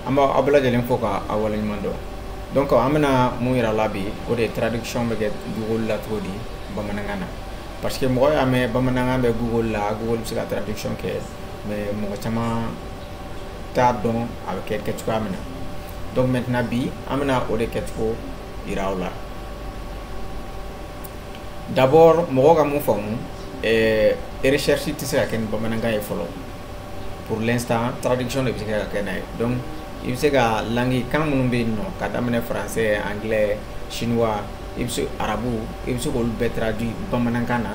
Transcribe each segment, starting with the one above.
an bɛ aw bɛɛ lajɛlen fo ka aw waleɲuman dɔn donc an bɛna mun yira aw la bi o de ye traduction bɛ kɛ google la cogo di bamanankan na parce que mɔgɔ y'a mɛn bamanankan bɛ google la google bɛ se ka traduction kɛ mais mɔgɔ caman t'a dɔn a bɛ kɛ cogoya min na donc maintenant bi an bɛna o de kɛcogo yira aw la d'abord mɔgɔ ka mun faamu recherche tɛ se ka kɛ ni bamanankan ye fɔlɔ pour l'instant traduction de bɛ se ka kɛ n'a ye donc i bɛ se ka langue kan minnu bɛ yen nɔ ka daminɛ français anglais chinois i bɛ se arabu i bɛ se k'olu bɛɛ traduit bamanankan na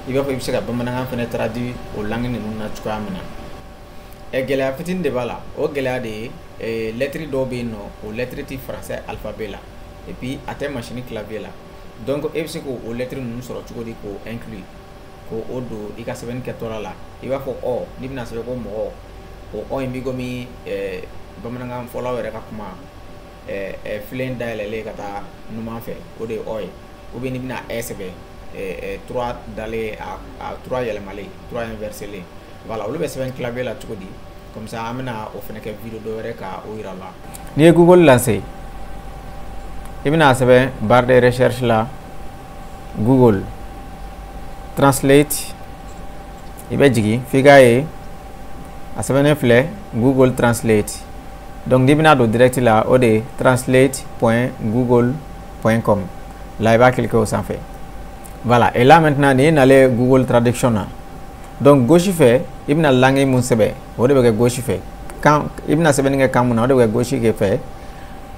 i b'a fɔ i bɛ se ka bamanankan fana traduit o langue ninnu na cogoya min na ɛ gɛlɛya fitini de b'a la o gɛlɛya de ye eh, lɛtiri dɔw bɛ yen nɔ o lɛtiri ti français alphabet la et puis a tɛ machine clavier la donc i bɛ se k'o lɛtiri ninnu sɔrɔ cogo di k'o inclure k'o don i ka sɛbɛnni kɛtɔla la i b'a fɔ ɔ n'i bɛna sɛbɛn ko mɔgɔ o ɔ in b'i komi eh, bamanankan fɔlaw yɛrɛ ka kuma eh, eh, filen dayɛlɛlen ka taa numan fɛ o de ye ɔ ye ou bien n'i bɛna ɛ sɛbɛn trois dalen a trois yɛlɛmalen trois inverselen voilà olu bɛ sɛbɛn clavier la cogo di comme ça an bɛna o fana kɛ video dɔ wɛrɛ ka o yira aw la n'i ye google lancer i bɛna sɛbɛn barre de recherche la google translate i bɛ jigin f'i k'a ye a sɛbɛnnen filɛ google translate donc n'i bɛna don direct la o de translate point google point com la i b'a cliquer o sanfɛ voilà et là maintenant n'i nalen google traduction na donc gauche fɛ i bɛna langue mun sɛbɛn o de bɛ kɛ gauche fɛ kan i bɛna sɛbɛnni kɛ kan mun na o de bɛ kɛ gauche fɛ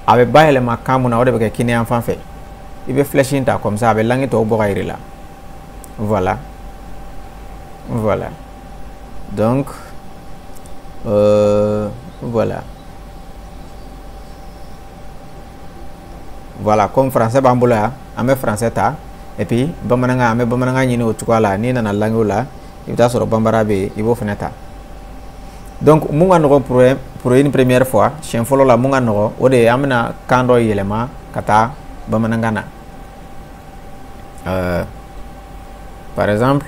a bɛ bayɛlɛma kan mun na o de bɛ kɛ kininyanfan fɛ i bɛ flèche in ta comme ça a bɛ langue tɔw bɔ ka yir'i la voilà voilà donc euh, voilà voilà comme français b'an bolo yan an bɛ français ta et puis bamanankan an bɛ bamanankan ɲini o cogoya la n'i nana languew la i bɛ t'a sɔrɔ bambara bɛ yen i b'o fana ta donc mun ka nɔgɔn pour pour une première fois siɲɛ fɔlɔ la mun ka nɔgɔn o de ye an bɛna kan dɔ yɛlɛma ka taa bamanankan na euh, par exemple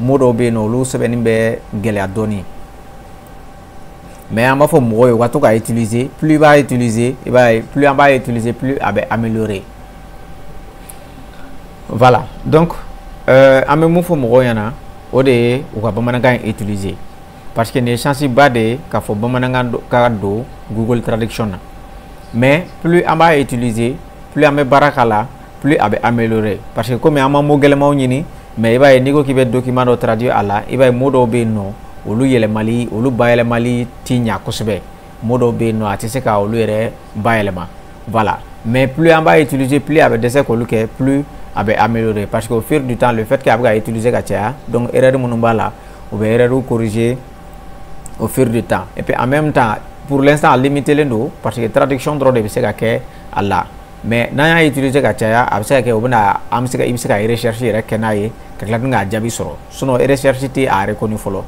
mot dɔw bɛ yen nɔ olu sɛbɛnni bɛ gɛlɛya dɔɔnin mais an b'a fɔ mɔgɔw ye u ka to k'a utiliser plus i b'a utiliser i b'a ye plus an b'a utiliser plus a bɛ améliorer voilà donc euh, an bɛ mun fɔ mɔgɔw ɲɛna o de ye u ka bamanankan in utiliser parce que nin ye chance ba de ye k'a fɔ bamanankan ka don google traduction na mais plus an b'a utiliser plus an bɛ baara k'a la plus a bɛ améliorer parce que komi an ma mot gɛlɛmanw ɲini mais i b'a ye n'i ko k'i bɛ document dɔ traduire a la i b'a ye mot dɔw bɛ yen nɔ olu yɛlɛmali olu bayɛlɛmali ti ɲa kosɛbɛ mot dɔw bɛ yen nɔ a tɛ se ka olu yɛrɛ bayɛlɛma voilà mais plus an b'a utiliser plus a bɛ dɛsɛ k'olu kɛ plus a bɛ améliorer parce que au fur du temps le fait que a bɛ ka utiliser ka caya donc erreur minnu b'a la u bɛ erreur corriger au fur du temps et puis en même temps pour l'instant a limitélen don parce que traduction dɔrɔn de bɛ se ka kɛ a la mais n'an y'a utiliser ka caya a bɛ se ka kɛ o bɛna an bɛ se ka i bɛ se ka recherche yɛrɛ kɛ n'a ye ka tila tuguni k'a jaabi sɔrɔ sinon recherche tɛ a reconnu fɔlɔ